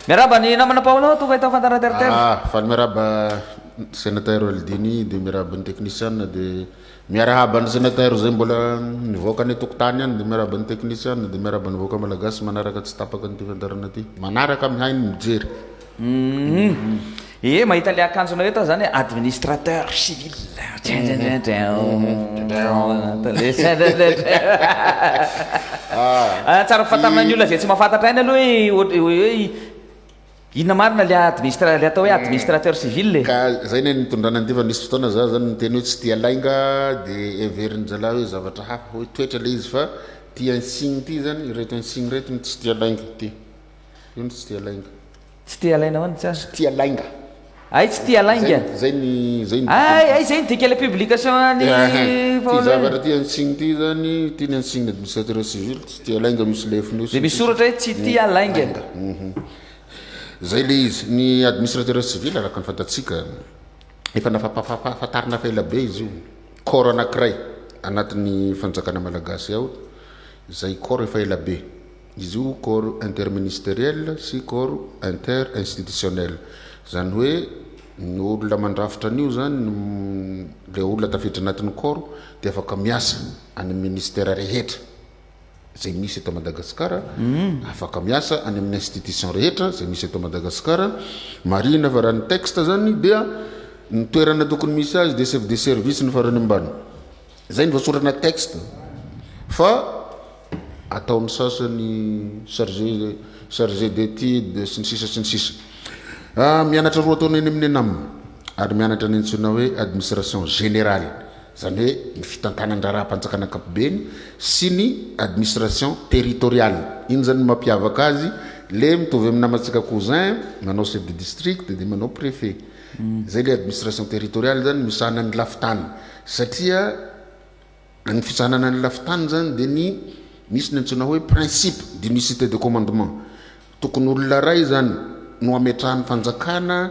Miarahaba ny namana Paolo tonga eto Fantara Terre-Terre. Ah, faly miarahaba Senatero Aldini dia miarahaba ny teknisiana dia miarahaba ny Senatero izay mbola nivoaka any an-tokotany any dia miarahaba ny teknisiana dia miarahaba ny vahoaka Malagasy manaraka tsy tapaka an'ity fiandarana ity. Manaraka mihaino mijery. Uhum. Ee mahita ilay akanjonao eto aho zany hoe administrateur civil Ah, tsara fantanana ny olona izay tsy mahafantatra aina aloha hoe ohatry- hoe hoe inona marina ilay administra- ilay atao hoe administrateur civil e ka zay ny nitondrana an'ity fa nisy fotoana za zany niteny hoe tsy tia lainga de heverin'ny zalahy hoe zavatra hafa hoe toetra le izy fa ty insigne ty zany ireto insigne ireto no tsy tia lainga ty io no tsy tia lainga Tsy tia alaina ho'a ny tsara. Tsy tia lainga. Ay tsy tia lainga. Zay ny zay ny. Ay ay zay ny dika le publication any Ty zavatra ty antsiny ty zany ty ny antsiny administrateur civil tsy tia lainga misy lefiny io. De misy soratra hoe tsy tia lainga. Zay le izy ny administrateur civil araka ny fantatsika efa nafapafafantarina fa ela be izy io corps anakiray anatin'ny fanjakana malagasy ao zay corps efa ela be. Izy io corps interministeriel sy corps interinstitutionnel, izany hoe ny olona mandrafitra an'io izany no ilay olona tafiditra anatin'ny corps dia afaka miasa any amin'ny ministera rehetra izay misy eto Madagasikara, afaka miasa any amin'ny institution rehetra izay misy eto Madagasikara. Marihina fa raha ny texte izany dia ny toerana tokony misy azy dia chef de service ny farany ambany. Izay ny voasorana texte fa ataon'ny sasany charge charge d'étude sy ny sisa sy ny sisa. Mianatra roa taona eny amin'ny Enam ary mianatra ny antsoina hoe administration générale izany hoe ny fitantanan-draharaham-panjakana ankapobeny sy ny administration territoriale. Iny izany no mampiavaka azy le mitovy amin'ny namantsika cousin manao chef de district dia manao préfet. Izay ilay administration territoriale izany no misahana ny lafin-tany satria ny fisahanana ny lafin-tany izany dia ny misy ny antsoina hoe principe d'unicité de commandement. Tokony olona iray izany no hametrahan'ny fanjakana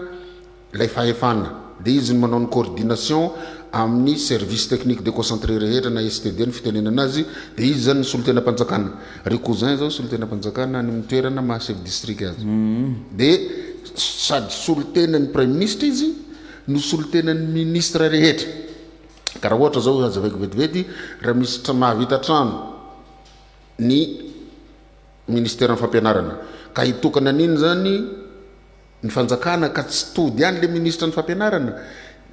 ilay fahefana dia izy no manao ny coordination amin'ny service technique déconcentré rehetra na STD no fitenenana azy dia izy izany ny solontenam-panjakana. Ry cousin zao solontenam-panjakana any amin'ny toerana maha chef district azy. Dia sady solontenan'ny praiminisitra izy no solontenan'ny minisitra rehetra. Ka raha ohatra zao hazavaiko vetivety raha misy tra- mahavita trano ny ministeran'ny fampianarana ka hitokana an'iny zany ny fanjakana ka tsy tody any le ministra ny fampianarana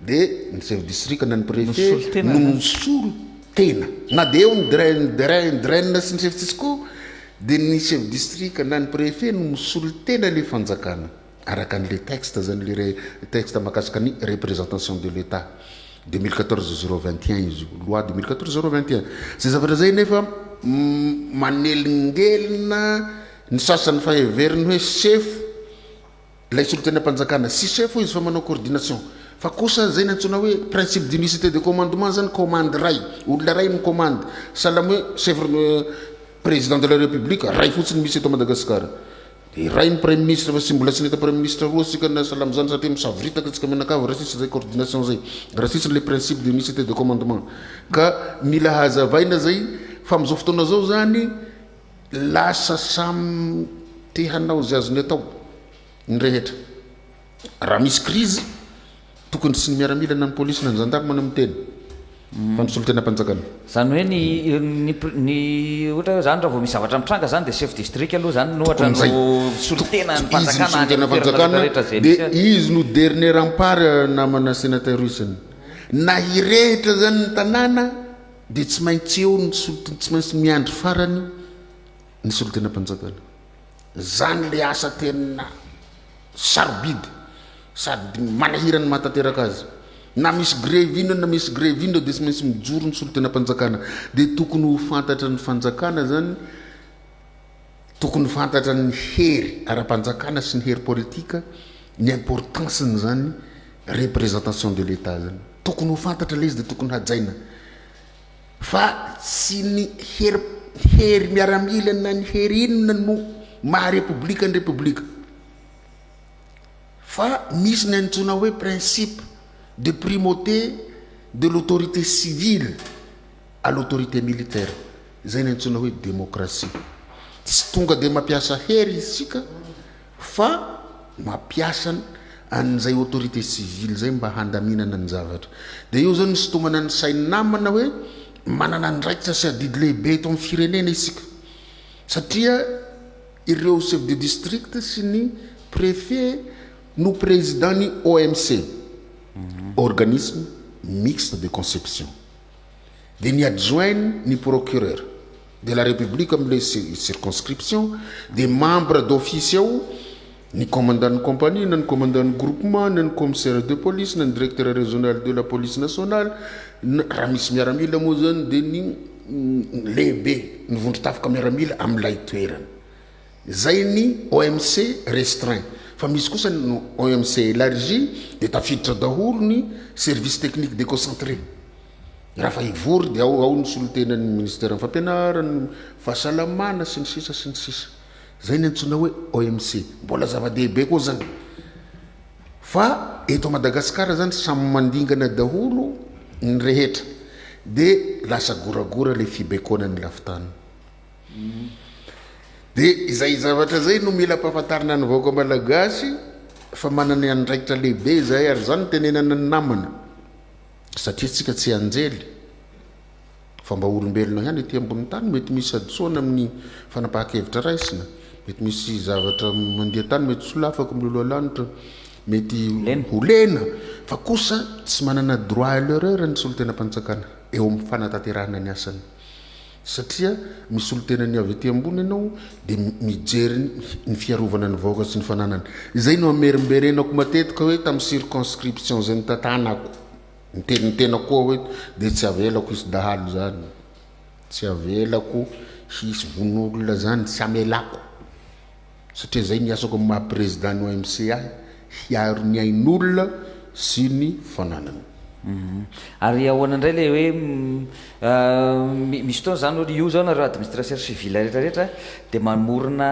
de ny chef district na ny prefet no misolo tena na de eo ny drain drain drain sy ny chef tsisy ko de ny chef district na ny prefet no misolo tena le fanjakana araka an'le texte zany le re texte makasika ny représentation de l'état 2014 0 21 izy io loi 2014 0 21 zay zavatra zay nefa manelingelina Ny sasany efa heveriny hoe sefo ilay solontenam-panjakana. Tsy sefo izy fa manao coordination. Fa kosa izay nantsoina hoe principe d'unicité de commandement izany, commande iray, olona iray mi-commande. Sahala amin'ny hoe chef président de la république iray fotsiny misy eto Madagasikara. Dia iray ny praiminisitra fa tsy mbola tsy nahita praiminisitra roa isika na sahala amin'izany satria misavoritaka isika mianakavy raha tsisy izay coordination izay, raha tsisy ilay principe d'unicité de commandement. Ka mila hazavaina izay fa amin'izao fotoana izao izany, Lasa samy te hanao izay azony atao ny rehetra. Raha misy krizy, tokony tsy ny miaramila na ny polisy na ny zandary no miteny fa ny solontenam-panjakana. Izany hoe ny ny ny ohatra hoe izany raha vao misy zavatra mitranga izany dia chef district aloha izany no ohatra no solontenan'ny fanjakana any amin'ny toerana rehetra izay misy azy. Dia izy no dernier rempart namana Senateur Wilson. Na hirehitra izany ny tanàna. Dia tsy maintsy eo ny solotena, tsy maintsy miandry farany ny solotenam-panjakana. Izany ilay asa tena sarobidy sady manahirana ny maha tanteraka azy. Na misy grevy inona na misy grevy inona dia tsy maintsy mijoro ny solotenam-panjakana. Dia tokony ho fantatra ny fanjakana izany. Tokony ho fantatra ny hery ara-panjakana sy ny hery politika ny importance n'izany représentation de l'Etat izany. Tokony ho fantatra ilay izy dia tokony hajaina fa tsy ny hery hery miaramila na ny hery inona no maha repoblika ny repoblika fa misy ny antsoina hoe principe de primauté de l'autorité civile. à l'autorité militaire, izay niantsoina hoe demokrasia. Tsy tonga dia mampiasa hery isika fa mampiasa an'izay autorité civile izay mba handaminana ny zavatra. Dia eo izao ny sintomana ny sain'ny namana hoe manana andraikitra sy adidy lehibe eto amin'ny firenena isika. Satria ireo chef de district sy ny préfet no président ny OMC, mhm. organisme mixte de conception. dia ny adjoint ny procureur de la République amin'ilay circonscription dia membre d'office ao ny commandant ny compagnie na ny commandant ny groupement na ny commissaire de police na ny directeur régional de la police nationale na raha misy miaramila moa izany dia ny lehibe ny vondron-tafika miaramila amin'ilay toerana. Izay ny OMC restreint fa misy kosa ny OMC elargie dia tafiditra daholo ny service technique deconcentré. Raha fa hivory dia ao ao ny solontenan'ny ministeran'ny fampianarana, ny fahasalamana sy ny sisa sy ny sisa. Izay ny antsoina hoe OMC. Mbola zava-dehibe koa izany. Fa eto Madagasikara izany samy mandingana daholo ny rehetra dia lasa goragora ilay fibaikoana ny lafin-tany. Dia izay zavatra izay no mila ampahafantarina ny vahoaka malagasy fa manana ny andraikitra lehibe izahay ary izany no tenenana ny namana satria antsika tsy anjely fa mba olombelona ihany ety ambony tany mety misy hadisoana amin'ny fanapahan-kevitra raisina mety misy zavatra mandeha tany mety solafako miloloha lanitra mety ho lena fa kosa tsy manana droit à l'erreur ny solontenam-panjakana eo amin'ny fanatanterahana ny asany Satria misolo tena ny avy ety ambony ianao dia mijery ny fiarovana ny vahoaka sy ny fananany. Izay no amerimberenako matetika hoe tamin'ny circonscription izay notantanako. Niteny ny tenako koa aho hoe dia tsy avelako hisy dahalo izany. Tsy avelako hisy vono olona izany, tsy amelako. satria izay ny asako amin'ny maha président ny OMC ahy, hiaro ny ain'olona sy ny fananany. Ary ahoana indray ilay hoe misy fotoana izany hoe io izao nareo administration civile rehetra rehetra dia mamorona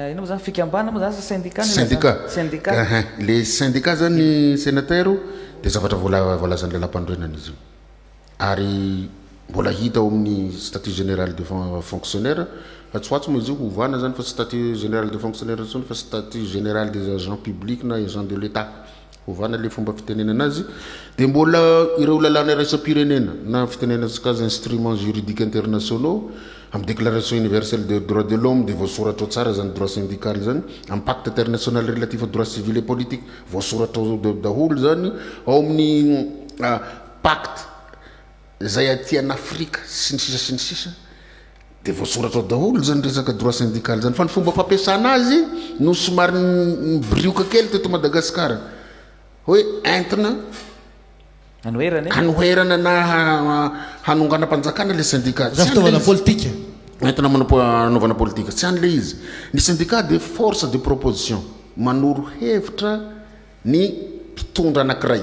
inona moa izany fikambanana moa izany sa syndicat no ilazana? Syndicat. Syndicat. Ahay, ilay syndicat izany Sénateur dia zavatra voalazan'ny lalam-panorenana izy io. ary mbola hita ao amin'ny statut général des fonctionnaires fa tsy ho atsy moa izy io hovana zany fa tsy statut général des fonctionnaires intsony fa statut général des agents publics na agents de l'Etat hovana le fomba fitenenana azy de mbola ireo lalàna iraisam-pirenena na fitenenantsika azy instruments juridiques internationaux amin'ny déclaration universelle des droits de l'homme dia voasoratra ao tsara zany droit syndical zany amin'ny pacte international relatif aux droits civils et politiques voasoratra ao daholo zany ao amin'ny Pacte zay aty an Afrika sy ny sisa sy ny sisa de voasoratra ao daholo zany resaka droit syndical zany fa ny fomba fampiasana azy no somary nibirioka kely teto Madagascar hoe entina Hanoherana e? hanoherana na hanonganam-panjakana le syndicat. Izany fitaovana politika. Entina hanaovana politika. Tsy any le izy. Ny syndicat dia force de proposition, manoro hevitra, ny mpitondra anankiray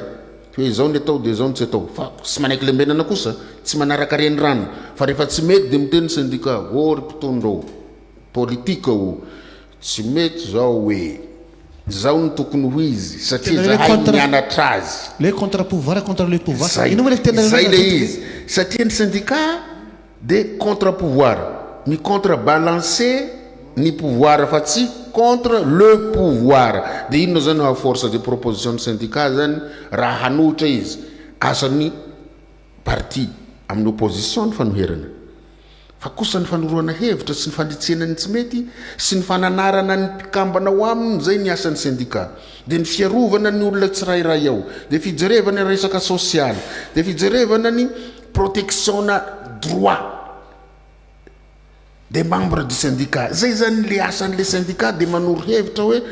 hoe izao ny atao dia izao ny tsy atao fa tsy manaiky lembenana kosa tsy manaraka renirano fa rehefa tsy mety dia miteny ny sendika ô ry mpitondra ô politika ô tsy mety izao hoe izao no tokony ho izy satria Tena ilay zahay contre- nianatra azy Ilay contre pouvoir contre le pouvoir. Izay. Inona moa ilay fiteny Izay ilay izy satria ny sendika De contre pouvoir. Mi contre balancer ny pouvoir fa tsy contre le pouvoir. De inona zany oa force de proposition ny syndicat zany raha hanohitra izy. Asany parti aminy opposition ny fanoherana. Fa kosa ny fanoroana hevitra sy ny fanitsiana ny tsy mety sy ny fananarana ny mpikambana ao aminy zay ny asany syndicat. De ny fiarovana ny olona tsirairay ao. De fijerevana ny resaka social. De fijerevana ny. protection-na droit des membres du syndicat. Zay zany le asan'le syndicat de manoro hevitra hoe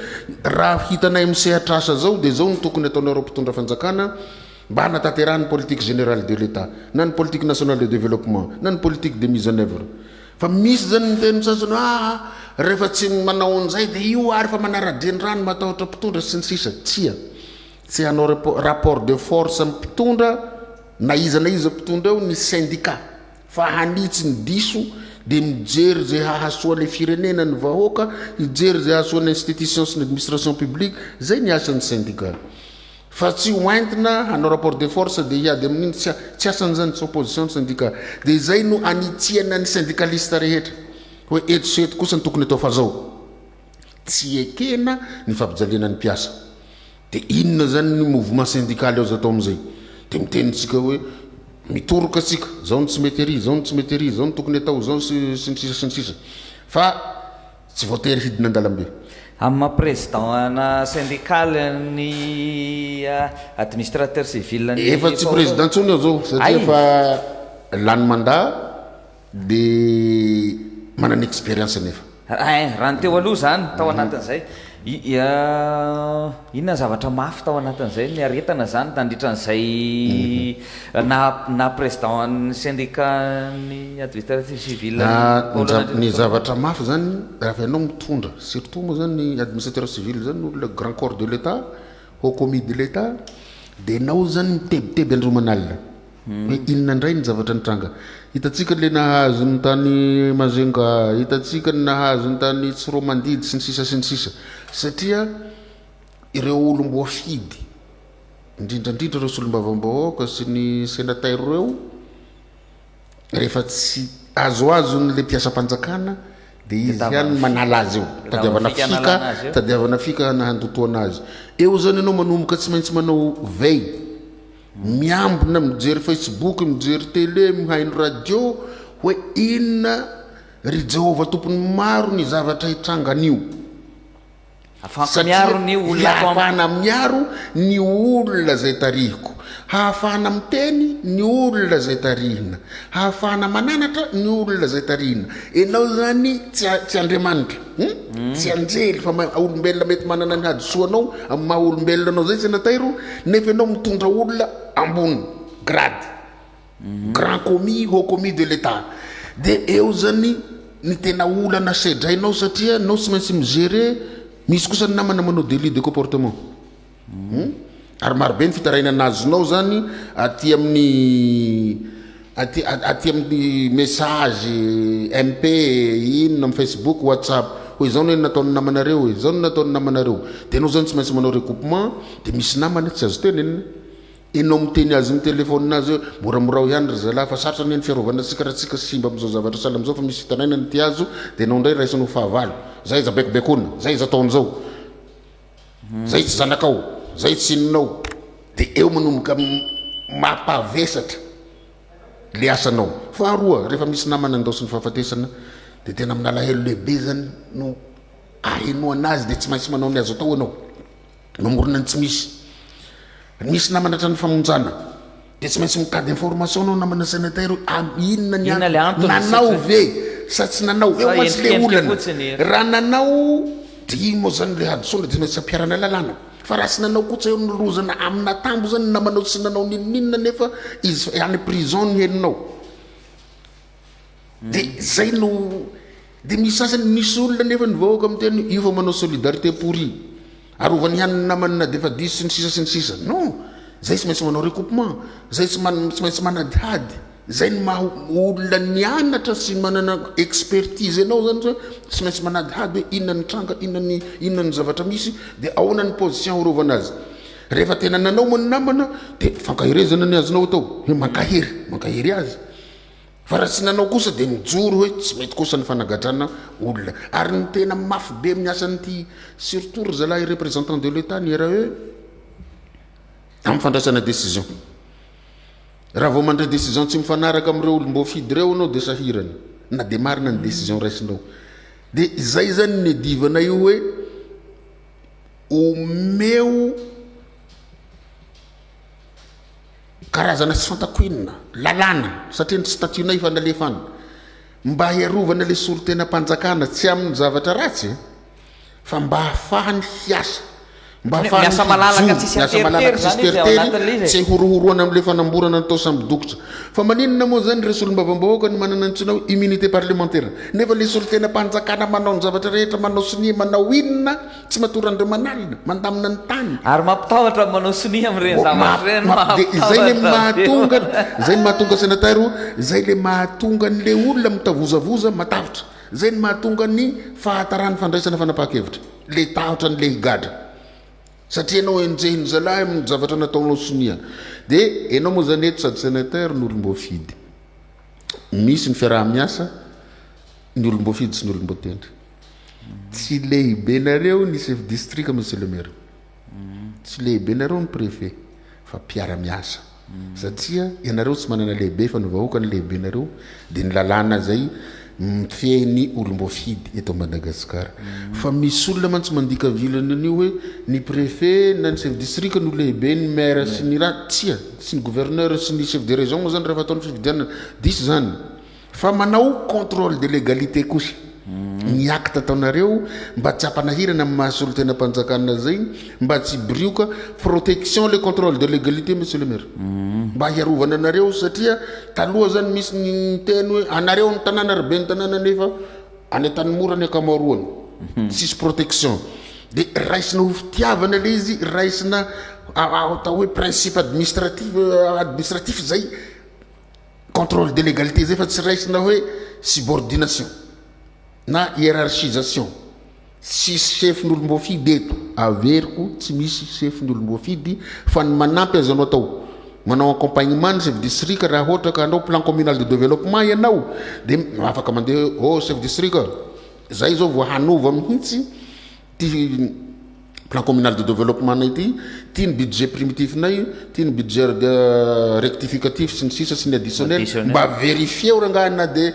raha hitanay amin'ny sehatra asa zao de zao no tokony ataonareo mpitondra fanjakana mba hanataterahan'ny politique générale de l'Etat na ny politique nationale de développement na ny politique de mise en œuvre. Fa misy zany ny teny sasany hoe aa rehefa tsy manao an'zay de io ary fa manara-drenirano matahotra mpitondra sy ny sisa. Tsia. Tsy hanao rapport de force amin'ny mpitondra na iza na iza mpitondra eo ny syndicat fa hanitsy ny diso dia mijery izay hahasoa ilay firenena, ny vahoaka, hijery izay hahasoa ny institution sy ny administration publique, izay ny asan'ny syndicat. Fa tsy ho entina hanao rapport de force dia hiady amin'iny, tsy tsy asan'izany, tsy opposition ny syndicat. Dia izay no anitsiana ny syndicaliste rehetra hoe eto sy eto kosa ny tokony atao fa izao. Tsy ekena ny fampijaliana ny mpiasa. Dia inona izany ny mouvement syndical azo atao amin'izay? Dia miteny isika hoe mitoroka isika, izao no tsy mety ery, izao no tsy mety ery, izao no tokony atao, izao sy ny sisa sy ny sisa. Fa tsy voatery hidina an-dalambe. Amin'ny maha président ana syndical ny administrateur civil ny Efa tsy président intsony aho izao satria efa lany mandat. Be manana expérience anefa. Eeh, raha ny teo aloha izany, tao anatin'izay, inona ny zavatra mafy tao anatin'izay, niaretana izany nandritra an'izay naha naha président-n'ny syndicat-n'ny administratif civil an'i Paolo Nandrianarivo. Ny zavatra mafy izany, raha fa ianao mitondra, surtout moa izany ny administrateur civil izany no le grand corps de l'Etat, haut commis de l'Etat, dia ianao izany mitebiteby androman'alina. Ny inona indray ny zavatra nitranga? Hitantsika ilay nahazo ny tany Majunga, hitantsika ny nahazo ny tany Tsiroamandidy sy ny sisa sy ny sisa. Satria ireo olom-boafidy, indrindra indrindra ireo solombavambahoaka sy ny senatera ireo, rehefa tsy azoazon'ilay mpiasam-panjakana dia izy ihany no manala azy eo. Tadiavana fika, tadiavana fika na handotoana azy. Eo izany ianao manomboka tsy maintsy manao veille. Miambina mijery Facebook mijery tele mihaino radio hoe inona ry Jehovah Tompon'ny maro ny zavatra itrangan'io satria hahafahana miaro ny olona izay tarihiko hahafahana miteny ny olona izay tarihina hahafahana mananatra ny olona izay tarihina ianao izany tsy Andriamanitra Tsianjery fa maha olombelona mety manana ny hadisoanao amin'ny maha olombelona anao zay Senatairo nefa ianao mitondra olona ambony grade, grand commis, haut commis de l'Etat dia eo zany ny tena olana sedrainao satria ianao tsy maintsy mi-gerer, misy kosa ny namana manao délit de comportement. Hum. Ary marobe ny fitarainana azonao zany aty amin'ny aty aty amin'ny message MP inona amin'ny Facebook, WhatsApp hoe izao no nataon'ny namanareo e, izao no nataon'ny namanareo. Dia ianao zany tsy maintsy manao recoupement dia misy namana tsy azo tenenina. Ianao miteny azy amin'ny téléphone azy hoe moramorao ihany ry zalahy fa sarotra anie ny fiarovana antsika raha tsika simba amin'izao zavatra sahala amin'izao fa misy fitarainana ity azo dia ianao indray raisinao fahavalo. Zay iza baikobaikoana, zay iza atao an'izao. Zay tsy zanakao, zay tsy ininao de eo manomboka mampavesatra le asanao. Faharoa, rehefa misy namana andaosin'ny fahafatesana de tena amin'ny alahelo lehibe zany no ahenoana azy de tsy maintsy manao ny azo atao ianao. Mamorona ny tsy misy. Misy namana hatrany famonjana. Dia tsy maintsy mitady information anao namana Senatera hoe am inona ny Inona ilay antony, antony nanao sitry. ve sa tsy nanao. Eo Sa mantsy le endrikendrika olana. fotsiny. Raha nanao dia iny moa zany le hadisoana dia maintsy ampiharana lalàna. Fa raha tsy nanao koa tsy eo ny lozana am natambo zany ny namanao sy nanao n'inon'inona nefa izy any prison no henonao. Dia izay no Dia misy sasany misy olona anefa ny vahoaka miteny hoe io vao manao solidarité pourri. Arovany ihany ny namany na dia efa diso sy ny sisa sy ny sisa. Non, izay tsy maintsy manao recoupement, izay tsy maintsy manadihady. Izay ny maha olona nianatra sy manana expertise anao izany hoe tsy maintsy manadihady hoe inona ny tranga, inona ny inona ny zavatra misy dia ahoana ny position arovana azy. Rehefa tena nanao moa ny namana dia fankaherezana ny azonao atao hoe mankahery, mankahery azy. Fa raha tsy nanao kosa dia mijoro hoe tsy mety kosa ny fanagadrana olona. Ary ny tena mafy be amin'ny asan'ity surtout ry zalahy représentant de l'Etat ny RAE amin'ny fandraisana décision. Raha vao mandray décision tsy mifanaraka amin'ireo olom-boafidy ireo ianao dia sahirana na dia marina ny décision raisinao. Dia izay izany ny divanay io hoe omeo Karazana tsy fantako inona. Lalàna. Satria ny statut-nay efa nalefan. Mba hiarovana ilay solontenam-panjakana, tsy amin'ny zavatra ratsy e. Fa mba hahafahany hiasa. Mba hahafahany mijoro. Miasa malalaka tsisy hateritery zany izy ao anatin'ilay izy e. Tsy horohoroana amin'ilay fanamborana natao samy dokotra. Fa maninona moa izany ireo solombavambahoaka no manana antsoina hoe immunité parlementaire. Nefa ilay solontenam-panjakana manao ny zavatra rehetra, manao sonia, manao inona. Tsy matory an'ireo manalina, mandamina ny tany. Ary mampitahotra ny manao sonia amin'ireny zavatra ireny, mampitahotra. Dia izay ilay mahatonga, izay no mahatonga senatera ho, izay ilay mahatonga an'ilay olona mitavozavoza matahotra. Izay no mahatonga ny fahataran'ny fandraisana fanapahan-kevitra. Ilay tahotra an'ilay higadra. Satria ianao enjehin'ny zalahy amin'ny zavatra nataonao sonia. Dia ianao moa izany eto sady senatera no olom-boafidy. Misy ny fiaraha-miasa, ny olom-boafidy sy ny olom-boatendry. Tsy lehibenareo ny chef district monsieur le maire. Tsy lehibenareo ny préfet fa mpiara miasa. Satria ianareo tsy manana lehibe fa ny vahoaka no lehibenareo dia ny lalàna izay mifehy ny olom-boafidy eto Madagascar. Fa misy olona mantsy mandika vilany an'io hoe ny préfet na ny chef district no lehibe ny maire sy ny ra, tsia, sy ny gouverneur sy ny chef de région moa izany raha efa atao ny fifidianana. Diso izany. Fa manao contrôle de légalité kosa ny acte ataonareo mba tsy hampanahirana ny maha solontenam-panjakana zay mba tsy hiborioka, protection le contrôle de légalité monsieur le maire mba hiarovana anareo satria taloha zany misy ny niteny hoe anareo ny tanàna ry ben'ny tanàna nefa any Antanimora ny ankamaroany tsisy protection de raisina ho fitiavana le izy raisina atao hoe principe administratif administratif zay. Contrôle de légalité zay fa tsy raisina hoe subordination na hiérarchisation. Tsisy chefin'ny olom-boafidy eto, averiko tsy misy chefin'ny olom-boafidy fa ny manampy azonao atao manao accompagnement ny chef district raha ohatra ka hanao plan communal de développement ianao dia afaka mandeha hoe oh chef district a, zay izao vao hanova mihitsy Ity plan communal de développement-nay ity, ity ny budget primitif-nay, ity ny budget rectificatif sy ny sisa sy ny additionnel, mba verifieo rangahy na dia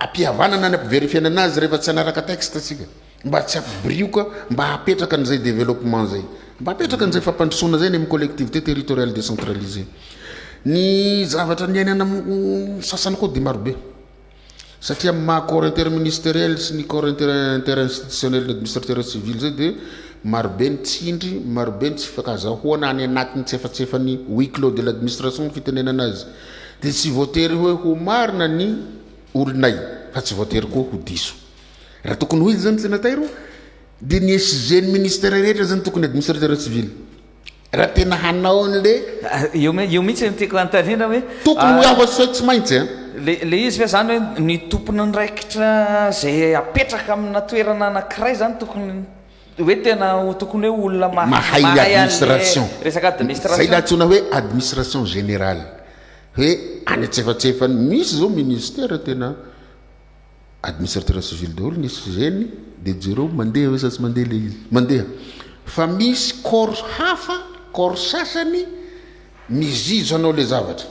am-pihavanana ny am-piverifiana anazy rehefa tsy hanaraka texte isika, mba tsy hampibirioka, mba hapetraka an'izay développement izay, mba hapetraka an'izay fampandrosoana izay ny amin'ny collectivité territoriale décentralisée. Ny zavatra niainana sasany koa dia marobe. Satria amin'ny maha corps interministeriel sy ny corps interinstitutionnel ny administrateur civil izay dia marobe ny tsindry, marobe ny tsy fifankazahoana any anatin'ny tsiefatsiefan'ny huis clos de l'administration ny fitenenana azy dia tsy voatery hoe ho marina ny olonay fa tsy voatery koa ho diso. Raha tokony ho izy izany senatay ro dia ny SG ny ministera rehetra izany tokony administrateur civil. Raha tena hanao an'le. Io mi, io mihitsy no tiako hanontaniana hoe. Tokony ho afa-tsy hoe tsy maintsy an. Le, le izy ve zany hoe ny tompon'andraikitra zay apetraka amina toerana anakiray zany tokony hoe tena ho tokony hoe olona mahay, mahay ny administration, resaka administration. Zay le antsoina hoe administration générale, hoe any antsefatsefany, misy zao ministère tena. Administrateur civil daholo ny SGN de jereo mandeha ve sa tsy mandeha le izy. Mandeha. Fa misy corps hafa, corps sasany mizizo anao le zavatra.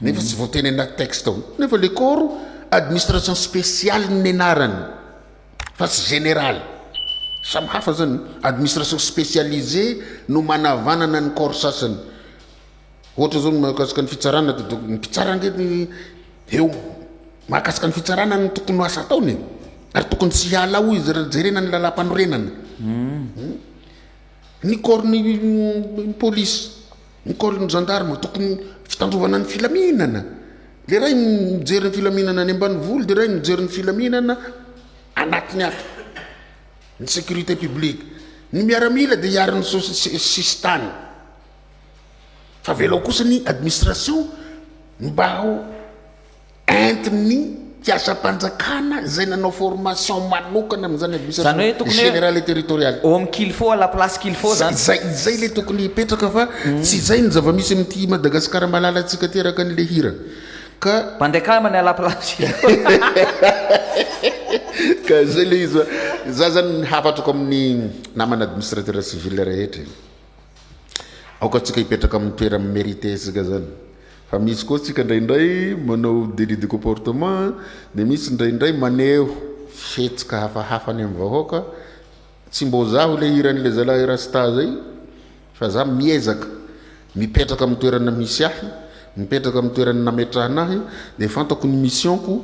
Nefa tsy voateny anaty texte ao. Nefa le corps administration spéciale ny nenarany fa tsy général. Samy hafa zany. Administration spécialisée no manavanana ny corps sasany. Ohatra zao ny mahakasika ny fitsarana de donc ny mpitsara nge ny eo mahakasika ny fitsarana ny tokony ho asa ataony e ary tokony tsy hiala ao izy raha jerena ny lalam-panorenana ny corps ny ny police ny corps ny gendarme tokony fitandrovana ny filaminana le ray ny mijery ny filaminana any ambanivolo de ray ny mijery ny filaminana anatiny ato ny sécurité publique ny miaramila de hiaro ny sosi- sisintany Fa avelao kosa ny administration mba ho entin'ny mpiasam-panjakana izay nanao formation manokana amin'izany administration générale et territoriale. Homme qu'il faut à la place qu'il faut zany. Izay izay ilay tokony hipetraka fa tsy izay ny zava-misy amin'ity Madagasikara malalantsika ity araka an'ilay hira. Ka Mandeha kamany à la place qu'il faut. Ka izay ilay izy fa za zany ny hafatako amin'ny namana administrateur civil rehetra e. Aoka tsika hipetraka amin'ny toera mi-merite isika zany fa misy koa tsika indraindray manao délit de comportement dia misy indraindray maneho fihetsika hafahafa any amin'ny vahoaka tsy mbo zaho ilay hiran'ilay zalahy rasta zay fa za miezaka mipetraka amin'ny toerana misy ahy mipetraka amin'ny toerana nametrahana ahy dia fantako ny mission-ko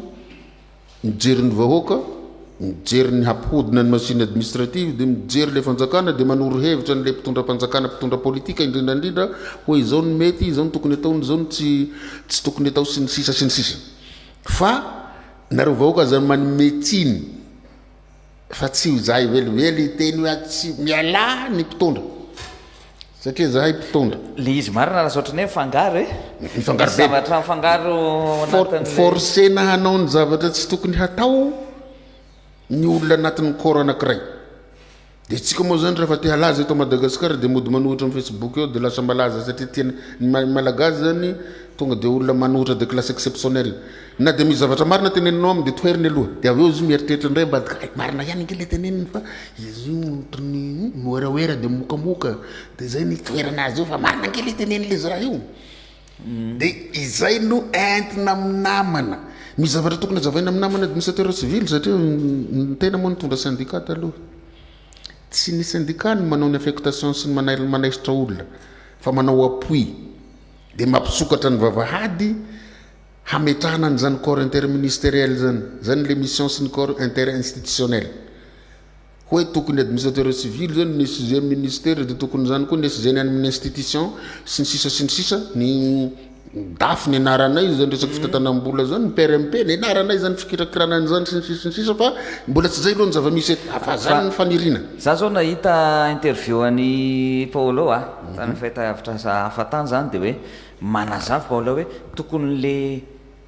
Mijery ny vahoaka, mijery ny hampihodina ny machine administrative dia mijery ilay fanjakana dia manoro hevitra an'ilay mpitondram-panjakana mpitondra politika indrindra indrindra hoe izao no mety, izao no tokony atao, izao no tsy tsy tokony atao sy ny sisa sy ny sisa. Fa nareo vahoaka aza manome tsiny. fa tsy ho zahay velively hiteny hoe tsy mialà ny mpitondra satria zahay mpitondra. Le izy marina lasa ohatran'ny hoe mifangaro e. Mifangaro be. Zavatra mifangaro anatin'ilay. Forcena hanao ny zavatra tsy tokony hatao ny olona anatin'ny corps anankiray. Dia isika moa zany rehefa te halaza eto Madagasikara dia mody manohitra amin'ny Facebook eo dia lasa malaza satria tena ny Malagasy zany tonga dia olona manohitra de classe exceptionnelle. Na dia misy zavatra marina teneninao amin' dia toheriny aloha, dia avy eo izy io mieritreritra indray ambadika, hay marina ihany ange ilay teneniny fa izy io ohatran'ny mihoerahoera dia mokamoka, dia izay no itoherana azy eo fa marina ange ilay teneniny ilay zaza io, dia izay no entina amin'ny namana, misy zavatra tokony hazavaina amin'ny namana administrateur civil satria ny tena moa nitondra syndicat taloha, tsy ny syndicat no manao ny affectation sy ny manail- manaisitra olona fa manao appui dia mampisokatra ny vavahady, hametrahana an'izany corps interministériel izany, izany ilay mission sy ny corps interinstitutionnel. Hoe tokony administrateur civil izao ny sixième ministère dia tokony izany koa ny sixième amin'ny institution sy ny sisa sy ny sisa ny dafy ny anaranay izany resaka fitantanam-bola izany ny PRMP ny anaranay izany fikirakirana an'izany sy ny sisa sy ny sisa fa mbola tsy izay aloha ny zava-misy eto fa izany ny faniriana. Za izao nahita interview an'i Paolo a, tany fahitalavitra hafa tany izany dia hoe Manazava aho ilay hoe tokony le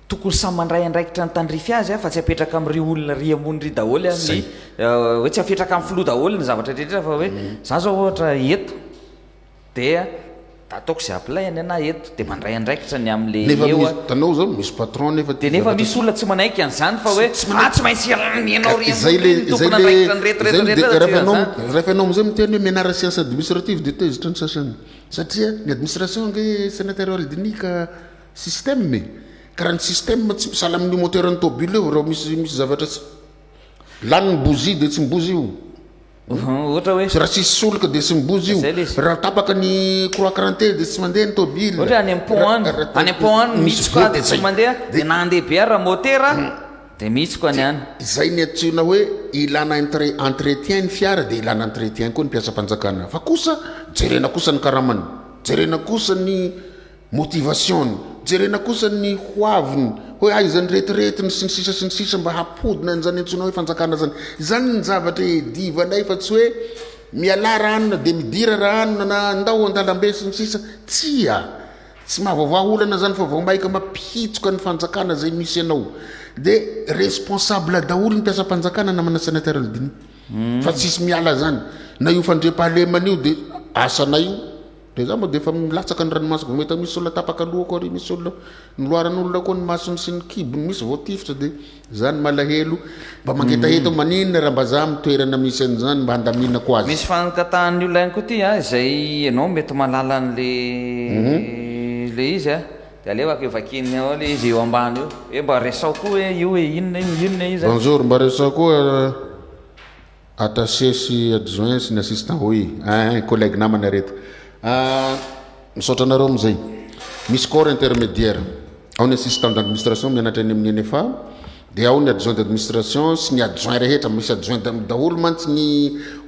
tokony samy mandray andraikitra ny tandrify azy fa tsy apetraka amin'ry olona ry ambony ry daholo ny hoe tsy afetraka amin'ny filoha daholo ny zavatra rehetra fa hoe za zao ohatra eto dia ataoko izay apilay-ny ana eto dia mandray andraikitra ny amin'le eo an. Nefa itanao zao misy patron nefa tia zavatra. Dia nefa misy olona tsy manaiky an'izany fa hoe ah tsy maintsy ianao ry ambony ry ny tompon' andraikitra ny rehetra rehetra rehetra raha tsy eo an'izany. Rehefa ianao amin'izay miteny hoe menarasiansa administrative dia tezitra ny sasany. Satria ny administration ange senatorial dinia ka système e! Ka raha ny système tsy misala amin'io moteur an'ny tôbily eo raha misy misy zavatra tsy lany ny bougie dia tsy mibozy io Ohatra hoe. Raha tsisy solika dia tsy mibozy io. Zay le izy. Raha tapaka ny croix crantée dia tsy mandeha ny tôbily. Ohatra hoe any am-pont any, Ra- ra- any am-pont any ny Misy soka voa dia dia tsy zay. mandeha, dia na handeha be ary raha môtera Dia mihitsy koa ny an. Izay ny antsoina hoe ilana entretien ny fiara dia ilana entretien koa ny mpiasam-panjakana. Fa kosa jerena kosa ny karamany, jerena kosa ny motivation-ny, jerena kosa ny hoaviny hoe aiza ny retiretiny sy ny sisa sy ny sisa mba hampodina an'izany antsoina hoe fanjakana izany. Izany ny zavatra iadivanay fa tsy hoe mialà ra anona dia midira ra anona na ndao an-dalambe sy ny sisa. Tsia! Tsy mahavaovaha olana zany fa vao maika mampihitsoka ny fanjakana zay misy anao de responsable daholo ny mpiasam-panjakana namana sénateur Aldini fa tsisy miala zany na io fandriampahalemana io de asanay io de za moa de efa milatsaka ny ranomasoko vao mahita misy olona tapaka lohako ary misy olona noloaran'olona koa ny masony sy ny kibony misy vao tifitra de Zany malahelo mba mangetaheta ho maninona raha mbazaha am toerana misy an'izany mba handaminako azy. Misy fangatahany io lainga koa ty a, izay enao mety malala an le le izy a, de alevako eo vakiany ao le izy eo ambany eo, hoe mba resaho koa hoe io hoe inona io inona io zany. Bonjour, mba resaho koa. Attaché sy adjoint sy ny assistant hoy eeh collègue namana reto ahh misaotra anareo amin'izay misy corps intermédiaire ao ny assistant d'administration mianatra eny amin'ny NFA dia ao ny adjoint d'administration sy ny adjoint rehetra misy adjoint daholo mantsy ny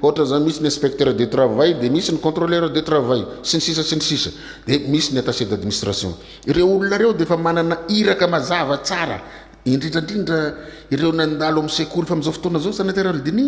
ohatra zany misy ny inspecteur de travail dia misy ny contrôleur de travail sy ny sisa sy ny sisa dia misy ny attaché d'administration ireo olona ireo dia efa manana iraka mazava tsara indrindra indrindra ireo nandalo amin'ny sekoly fa amin'izao fotoana izao Sénateur Aldini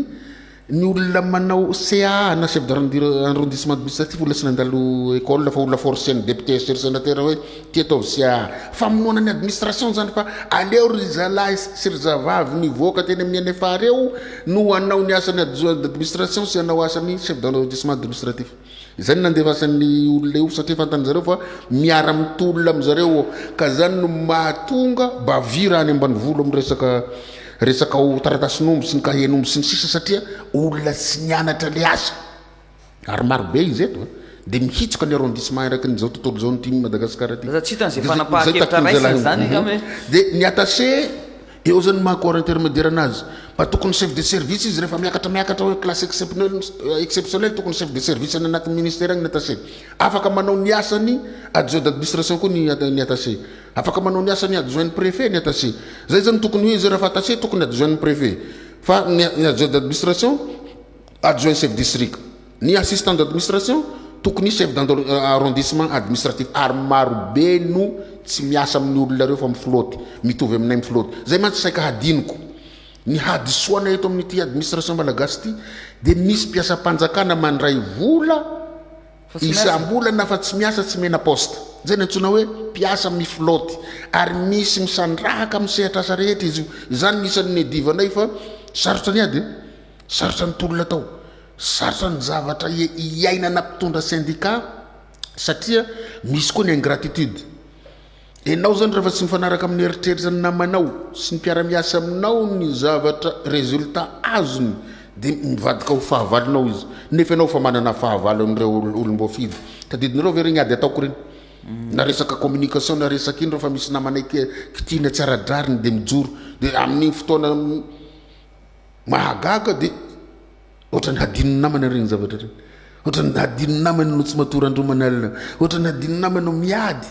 ny olona manao CA na chef d'arrondissement administratif olona tsy nandalo école fa olona forcé ny député sy ry Sénateur hoe ity ataovy CA famonoana ny administration izany fa aleo ry zalahy sy ry zavavy nivoaka teny amin'ny NFA reo no hanao ny asan'ny administration sy hanao asan'ny chef d'arrondissement administratif Izay no nandefasan'ny olona eo satria fantan'ny zareo fa miara mitolona amin'ny zareo ka zany no mahatonga bavy raha any ambanivolo amin'ny resaka resaka ao taratasin'omby sy ny kahen'omby sy ny sisa satria olona tsy nianatra le asa ary maro be izy eto dia mihitsoka ny arrondissement araky ny izao tontolo izao ny tim Madagasikara ty. Za tsy hitan'izay fanapahan-kevitra raisina izany angamba e. Dia ny atase Eo zany ny maha corps intermédiaire anazy. Mba tokony chef de service izy rehefa miakatra miakatra hoe classe excepnel exceptionnel tokony chef de service any anatin'ny ministère any ny attaché. Afaka manao ny asan'ny adjoint d'administration koa ny ny attaché. Afaka manao ny asan'ny adjoint ny préfet ny attaché. Zay zany tokony hoe izy rehefa attaché tokony adjoint ny préfet. Fa ny adjoint d'administration Adjoint Chef District. Ny Assistant d'Administration tokony hisy Chef d'Arrondissement Administratif ary marobe no tsy miasa amin'ny olona ireo fa mifloaty, mitovy aminay mifloaty. Izay mantsy saika hadinoko. Ny hadisoana eto amin'ity Administration Malagasy ity dia misy mpiasam-panjakana mandray vola isam-bolana fa tsy miasa tsy mena poste. Izay no antsoina hoe mpiasa mifloaty ary misy misandrahaka amin'ny sehatr'asa rehetra izy io. Izany no isan'ny niadivanay fa sarotra ny ady e! Sarotra ny tolona atao, sarotra ny zavatra iainana mpitondra sendika satria misy koa ny ingratitude. Enao zany refa tsy mifanaraka amin'ny eritreritra ny namanao sy ny mpiara-miasa aminao ny zavatra resultat azony de mivadika ho fahavalonao izy nefa enao efa manana fahavalo an'ireo olom-boafidy. Tadidinareo ve ireny ady ataoko ireny? Na resaka communication na resaka ino refa misy namanay kitina tsy ara-drariny de mijoro de amin'iny fotoana Mahagaga dia ohatrany hadinon'ny namany ireny zavatra ireny. Ohatrany hadinon'ny namany no tsy matory andromana alina. Ohatrany hadinon'ny namany no miady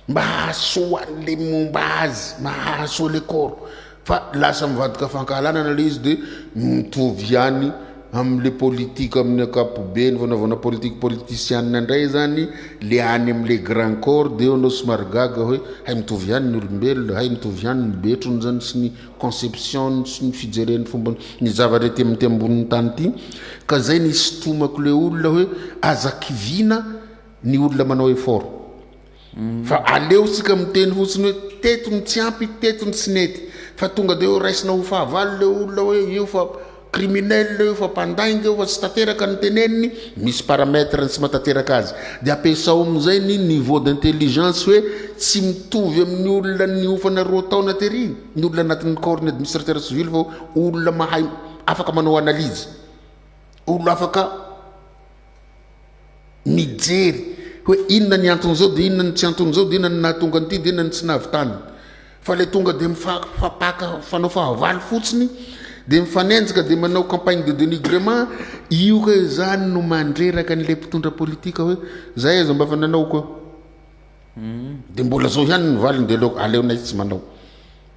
mba hahasoa an'le momba azy, mba hahasoa le koro. Fa lasa mivadika fankahalana ilay izy dia mitovy ihany amin'le politika amin'ny ankapobeny fanaovana politika politisianina indray izany le any amin'le grand corps dia eo anao somary gaga hoe hay mitovy ihany ny olombelona, hay mitovy ihany ny betrony izany sy ny. conception-ny sy ny fijereny fomba ny zavatra ety amin'ity ambonin'ny tany ity ka zay nisitomako le olona hoe aza kiviana ny olona manao effort fa aleo sika miteny fotsiny hoe teto ny tsy ampy teto ny tsy nety fa tonga de hoe raisina ho fahavalo le olona hoe io fa criminel io fa mpandainga io fa tsy tateraka ny teneniny misy paramètre ny tsy matateraka azy de ampiasao amizay ny niveau d'intelligence hoe tsy mitovy amin'ny olona niofana roa taona tery ny olona anatin'ny corps ny administrateur civil fa olona mahay afaka manao analyse olona afaka mijery hoe inona ny anton'izao dia inona ny tsy anton'izao dia inona ny nahatonga an'ity dia inona ny tsy nahavitany fa ilay tonga dia mifampaka fanao fahavalo fotsiny dia mifanenjika dia manao campagne de dénigrement io ka izany no mandreraka an'ilay mpitondra politika hoe za eza mba fa nanao ko dia mbola zao ihany ny valiny dia aleo aleonay tsy manao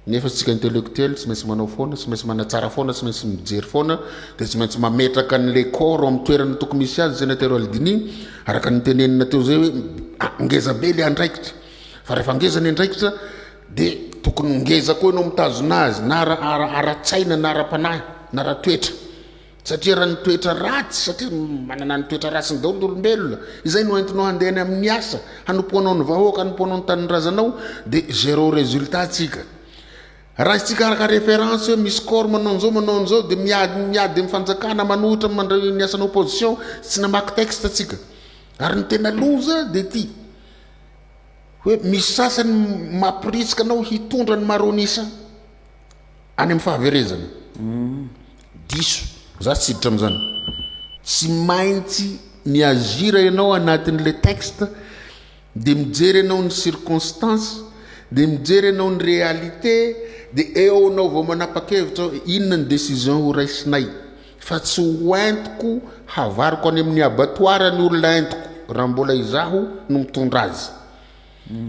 Nefa isika intellectuel tsy maintsy manao foana, tsy maintsy manatsara foana, tsy maintsy mijery foana, dia tsy maintsy mametraka an'ilay corps ao amin'ny toerana tokony hisy azy, Sénateur Aldini, araka ny nitenenina teo izay hoe, ngeza be ilay andraikitra, fa rehefa ngeza ny andraikitra dia tokony ngeza koa ianao mitazona azy, na ara-tsaina, na ara-panahy, na ara-toetra. Satria raha ny toetra ratsy, satria manana ny toetra ratsiny daholo ny olombelona, izay no entinao handeha any amin'ny asa, hanompoanao ny vahoaka, hanompoanao ny tanindrazanao, dia zéro résultat tsika. Raha izy tsy hikarakara référence hoe misy corps manao an'izao, manao an'izao, dia miady, miady amin'ny fanjakana, manohitra mandray ny asan'ny opposition, tsy namaky texte tsika. Ary ny tena loza dia ity, hoe misy sasany mampiritsika anao hitondra ny maronisa. any amin'ny fahaverezana. Diso. Za tsy hiditra amin'izany. Tsy maintsy mi-agir ianao anatin'ilay texte, dia mijery ianao ny circonstances, dia mijery ianao ny réalité, dia eo ianao vao manapa-kevitra hoe inona ny décision ho raisinay. Fa tsy ho entiko havariko any amin'ny abattoir ny olona entiko, raha mbola izaho no mitondra azy.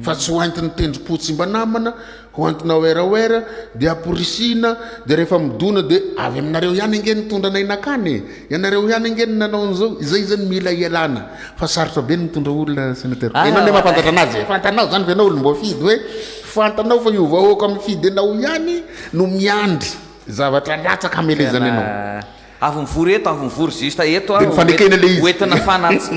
fa tsy ho entin'ny tendrom-po tsy mba namana, ho entina werawera, dia amporisihina, dia rehefa midona dia avy aminareo ihany ange nitondra anay nakany e! ianareo ihany ange no nanao an'izao, izay izany mila ialana, fa sarotra be ny mitondra olona Sénateur, ianao anie mahafantatra anazy e! fantanao izany fa ianao olom-boafidy hoe fantanao fa io vahoaka mifidy anao ihany no miandry zavatra latsaka hamelezana anao. Avy mivory eto, avy mivory juste eto aho, ho entina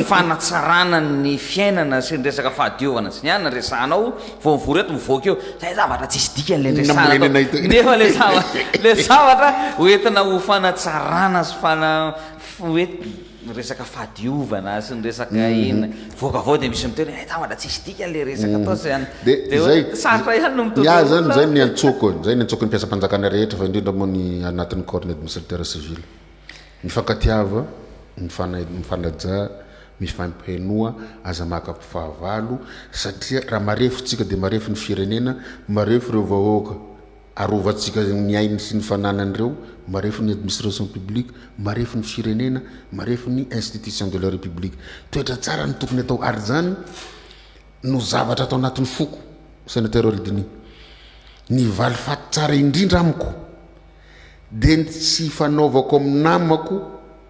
fanatsarana ny fiainana sy ny resaka fahadiovana sy ny anona no resahanao, vao mivory eto mivoaka eo, zay zavatra tsisy dikany le resahana atao, nefa le zavatra, le zavatra ho entina ho fanatsarana sy fana, hoe resaka fahadiovana sy ny resaka inona, Vokavao dia misy miteny hoe eh, tambatra tsisy dikany le resaka mm. ataotsy zany. Dia zay sarotra ihany no mitovy. Iah zany zay ny antsoko, zay ny antsoko ny mpiasam-panjakana rehetra fa indrindra moa ny anatin'ny corps ny administrateur civil. Mifankatiava, mifanaja, mifampihenoa, aza maka fahavalo satria raha marefotsika dia marefo ny firenena, marefo ireo vahoaka. Arovantsika ny ainy sy ny fananan'ireo marefo ny administration publique, marefo ny firenena, marefo ny institution de la République. Toetra tsara no tokony atao ary izany no zavatra ato anatin'ny foko, Sénateur Oldiny. Ny valifaty tsara indrindra amiko dia ny tsy ifanaovako amin'ny namako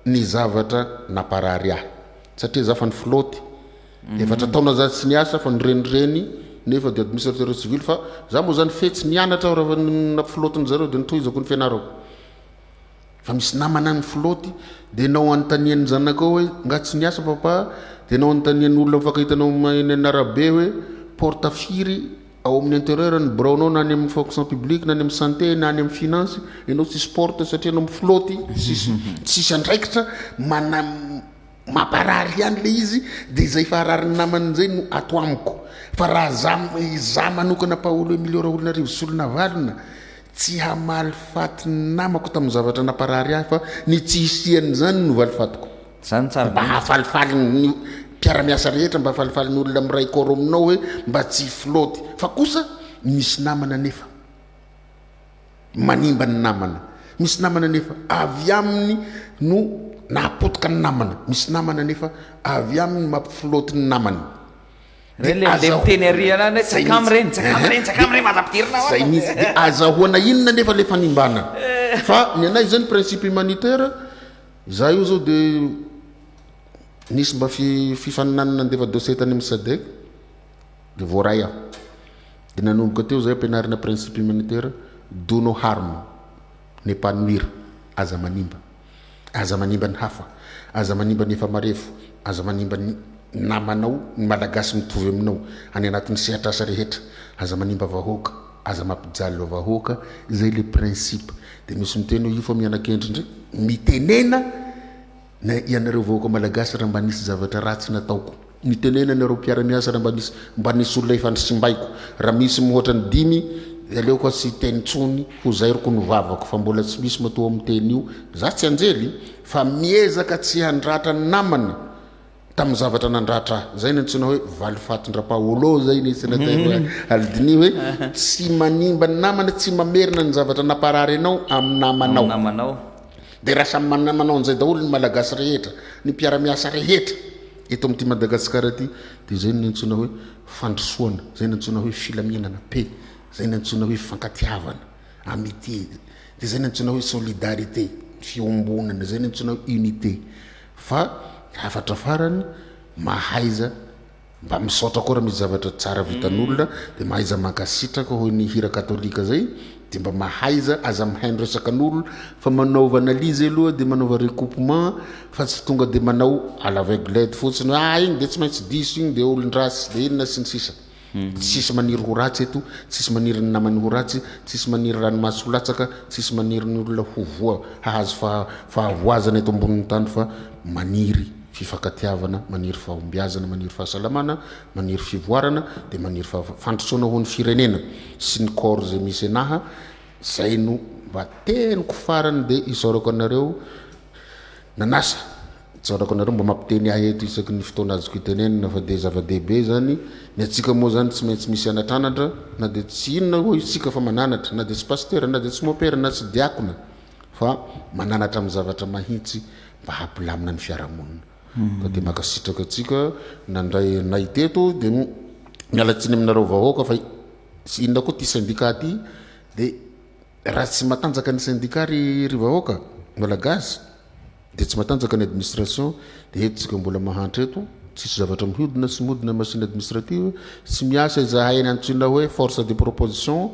ny zavatra namparary ahy satria izaho fa ny filoty, Efatra taona za tsy niasa fa nirenireny nefa dia administrateur civil fa za moa zany fetsy nianatra aho rehefa nampifloatin zareo dia nitohizako ny fianarako fa misy namana nifloaty dia nao anontanian'ny zanakao hoe nga tsy niasa papa dia nao anontanian'ny olona mifankahitanao eny amin'ny arabe hoe porte firy ao amin'ny interieur ny biraonao na any amin'ny fonction publique na any amin'ny santé na any amin'ny finance ianao tsisy porte satria ianao mifloaty tsisy andraikitra mana Mamparary ihany le izy de izay fa ararin'ny namany njay no ato amiko fa raha za za manokana Paolo Emilio Raholinarivo Solonavalona tsy hamaly faty ny namako tamin'ny zavatra namparary ahy fa ny tsy hisian'izany no valifatiko Zany tsara mba hafalifaly ny mpiaramiasa rehetra mba hafalifaly ny olona miray corps aminao hoe mba tsy flotte fa kosa misy namana nefa. Manimba ny namana. Misy namana nefa avy aminy no nahapotoka ny namana. Misy namana nefa avy aminy no mampiflôty ny namany. Re le le miteny ary ana le tsakam re tsakam re tsakam re manampidirina ao zay mihitsy de azahoana inona nefa le fanimbana fa ny anay izay ny principe humanitaire za io zao de nisy mba fi- fifaninanana nandefa dossier tany amin'ny sadec de voaray aho Dia nanomboka teo izay ampianarina principe humanitaire, do no harm, n'epanouir, aza manimba. Aza manimba ny hafa, aza manimba ny efa marefo, aza manimba ny namanao, ny malagasy mitovy aminao, any anatin'ny sehatr'asa rehetra, aza manimba vahoaka, aza mampijaly vahoaka, izay ilay principe. Dia misy miteny hoe io fa miana-kendry indray, mitenena, Nay ianareo vahoaka malagasy raha mba nisy zavatra ratsy nataoko. Mitenena ianareo mpiara-miasa raha mba nisy mba nisy olona efa nisimbaiko. Raha misy mihoatra ny dimy dia aleoko tsy hiteny tsony ho zairiko ny vavako fa mbola tsy misy matoa miteny io za tsy anjely fa miezaka tsy handratra ny namana tamin'ny zavatra nandratra ahy. Zay ny antsoina hoe valifatin-dRapaolo zay ny senatera Alidini hoe tsy manimba ny namana tsy mamerina ny zavatra namparary anao amin'ny namanao. Dia raha samy manana manao an'izay daholo ny Malagasy rehetra, ny mpiara-miasa rehetra eto amin'ity Madagasikara ity dia izay no niantsoana hoe fandrosoana, izay no niantsoana hoe filaminana, paix, izay no niantsoana hoe fifankatiavana, amitié, dia izay no niantsoana hoe solidarité, fiombonana, izay no niantsoana hoe unité. Fa hafatra farany, mahaiza, Mba misaotra koa raha misy zavatra tsara vitan'olona dia mahaiza mankasitraka hoy ny hira katolika zay dia mba mahaiza aza mihaino resaka n'olona fa manaova analyse aloha dia manaova recoupement fa tsy tonga dia manao à l'aveuglette fotsiny hoe ah igny dia tsy maintsy diso igny dia olon-dratsy dia inona sy ny sisa tsisy maniry ho ratsy eto tsisy maniry ny namany ho ratsy tsisy maniry ranomaso ho latsaka tsisy maniry ny olona ho voa hahazo faha- fahavoazana eto ambonin'ny tany fa maniry Fifankatiavana, maniry fahombiazana, maniry fahasalamana, maniry fivoarana, dia maniry fahav, fandrosoana ho an'ny firenena sy ny corps izay misy enaha, izay no mba teniko farany dia isaorako anareo nanasa, isaorako anareo mba mampiteny ahy eto isaky ny fotoana azoko itenenana fa dia zava-dehibe izany, ny antsika moa izany tsy maintsy misy anatranatra na dia tsy inona hoy isika fa mananatra, na dia tsy pasitera, na dia tsy mopera, na tsy diakona, fa mananatra amin'ny zavatra mahintsy mba hampilamina ny fiarahamonina ka dia mankasitraka antsika nandray anay teto dia miala tsiny aminareo vahoaka fa inona koa ity syndicat ity dia raha tsy matanjaka ny syndicat ry ry vahoaka malagasy Dia tsy matanjaka ny administration dia eto tsika mbola mahantra eto tsisy zavatra mihodina sy modina machine administrative tsy miasa izahay ny antsoina hoe force de proposition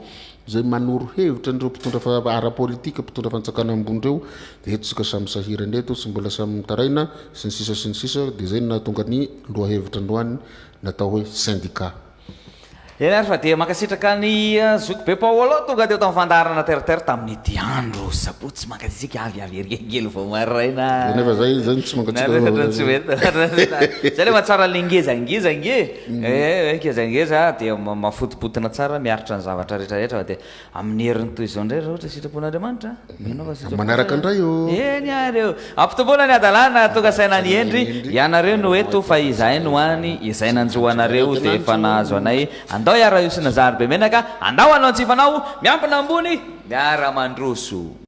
izay manoro hevitra an'ireo mpitondra fa ara politique mpitondra fanjakana ambony ireo dia eto tsika samy sahirana eto sy mbola samy mitaraina sy ny sisa sy ny sisa dia izay no nahatonga ny lohahevitra androany natao hoe syndicat Eny ary fa dia mankasitraka an'i Zoky Be Paolo tonga teo tamin'ny fandaharana Terre Terre tamin'ity andro sabotsy mankasitraka avy avy ery angely vao maraina. Dia nefa izay izay no tsy mankasitraka. Nefa izay no tsy mety. Izay nefa tsara ilay ngezangeza ange. Eh, eh, ngezangeza dia mafotopotina tsara miaritra ny zavatra rehetra rehetra fa dia Amin'ny heriny toy izao indray raha ohatra sitrapon'Andriamanitra, mino aho fa sitrapon'Andriamanitra. Manaraka indray ô. Eny ary ô. Ampitomboana ny hadalana tonga saina an'i Hendry, ianareo no eto fa izahay no any, izay nanjo anareo dia efa nahazo anay, andao iaraha-hiosina zary be menaka, andao hanao ny tsy fanao, miambina ambony, miara-mandroso.